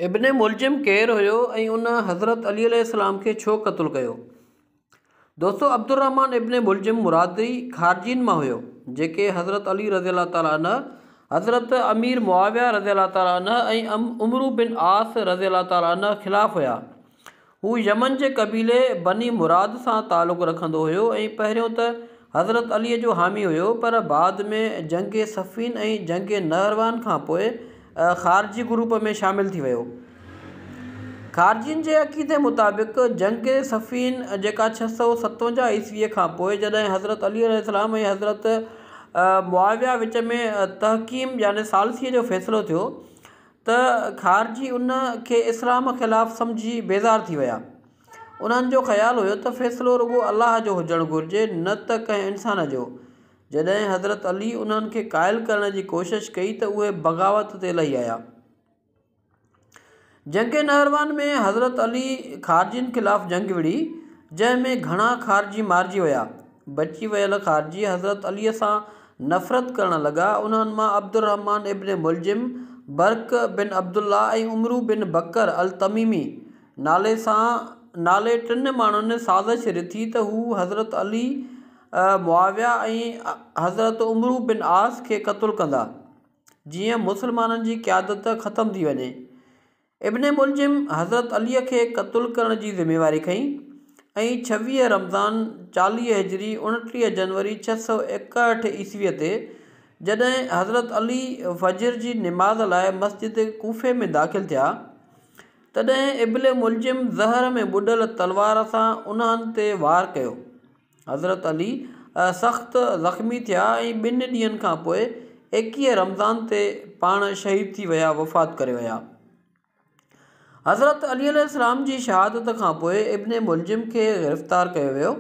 ابن ملجم ڪير هيو ۽ ان حضرت علي عليه السلام کي ڇو قتل ڪيو؟ دوستو عبدالرحمان ابن ملجم مرادي خارجين مان هيو جيڪي حضرت علي رضي الله تعالٰي عنه، حضرت امير معاويه رضي الله تعالٰي عنه ۽ عمرو بن عاص رضي الله تعالٰي عنه خلاف هيا هو يمن جي قبيلي بني مراد سان تعلق رکندو هيو ۽ پهريون ته حضرت علي جو حامي هيو پر بعد ۾ جنگ صفين ۽ جنگ نهروان کان پوء خارجي گروپ ۾ شامل ٿي ويو. خارجين جي عقيدي مطابق جنگ صفين جيڪا ڇهه سؤ ستونجاهه عيسوي کان پوء جڏهن حضرت علي عليه السلام ۽ حضرت معاويه وچ ۾ تحڪيم يعني ثالثي جو فيصلو ٿيو ته خارجي ان کي اسلام خلاف سمجهي بيزار ٿي ويا. انهن جو خيال هيو ته فيصلو رڳو الله جو هجڻ گهرجي نه ته ڪنهن انسان جو. جڏهن حضرت علي انهن کي قائل ڪرڻ جي ڪوشش ڪئي ته اهي بغاوت تي لهي آيا. جنگ نهروان ۾ حضرت علي خارجين خلاف جنگ وڙهي جنهن ۾ گهڻا خارجي مارجي ويا. بچي ويل خارجي حضرت عليء سان نفرت ڪرڻ لڳا. انهن مان عبدالرحمٰن ابن ملجم، برق بن عبدالله ۽ عمرو بن بڪر التميمي نالي سان نالي ٽن ماڻهن سازش رٿي ته هو حضرت علي، معاويه ۽ حضرت عمرو بن عاص کي قتل ڪندا، جيئن مسلمانن جي قيادت ختم ٿي وڃي. ابن ملجم حضرت علي کي قتل ڪرڻ جي ذميواري کنئي ۽ ڇويهه رمضان چاليهه هجري اڻٽيهه جنوري ڇهه سؤ ايڪاهٺ عيسويء تي جڏهن حضرت علي فجر جي نماز لاء مسجد ڪوفي ۾ داخل ٿيا تڏهن ابن ملجم زهر ۾ ٻڏل تلوار سان انهن تي وار ڪيو حضرت علي سخت زخمي ٿيا ۽ ٻن ڏينهن کان پوء ايڪيهه رمضان تي پاڻ شهيد ٿي ويا وفات ڪري ويا. حضرت علي عليه السلام جي شهادت کان پوء ابن ملجم کي گرفتار ڪيو ويو.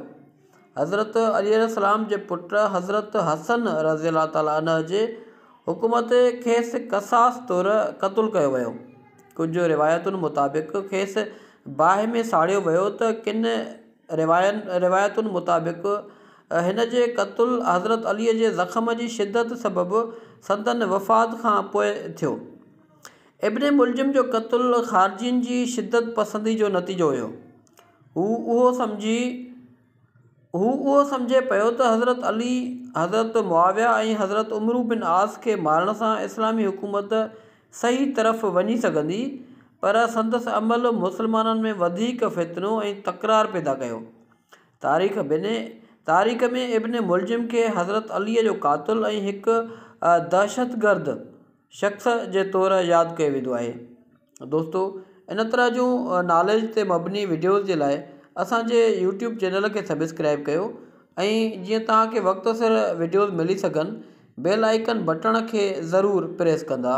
حضرت علي عليه السلام جي پٽ حضرت حسن رضي الله تعالٰي عنه جي حڪم تي کيس قصاص طور قتل ڪيو ويو. ڪجهه روايتن مطابق کيس باهه ۾ ساڙيو ويو ته ڪن رواين روايتن مطابق هن جي قتل حضرت علي جي زخم جي شدت سبب سندن وفات کان پوء ٿيو. ابن ملجم جو قتل خارجين جي شدت پسندي جو نتيجو هيو. هو اهو سمجهي هو اهو سمجهي پيو ته حضرت علي، حضرت معاويه ۽ حضرت عمرو بن عاص کي مارڻ سان اسلامي حڪومت صحيح طرف وڃي سگهندي، پر سندس عمل مسلمانن ۾ وڌيڪ فتنو ۽ تڪرار پيدا ڪيو. تاريخ بن تاريخ ۾ ابن ملجم کي حضرت عليء جو قاتل ۽ هڪ دهشتگرد شخص جي طور ياد ڪيو ويندو آهي. دوستو ان طرح جون ناليج تي مبني وڊيوز جي لاء اسان جي يوٽيوب چينل کي سبسڪرائيب ڪيو ۽ جيئن توهان کي وقت سر وڊيوز ملي سگهن بيل آئيڪن بٽڻ کي ضرور پريس ڪندا.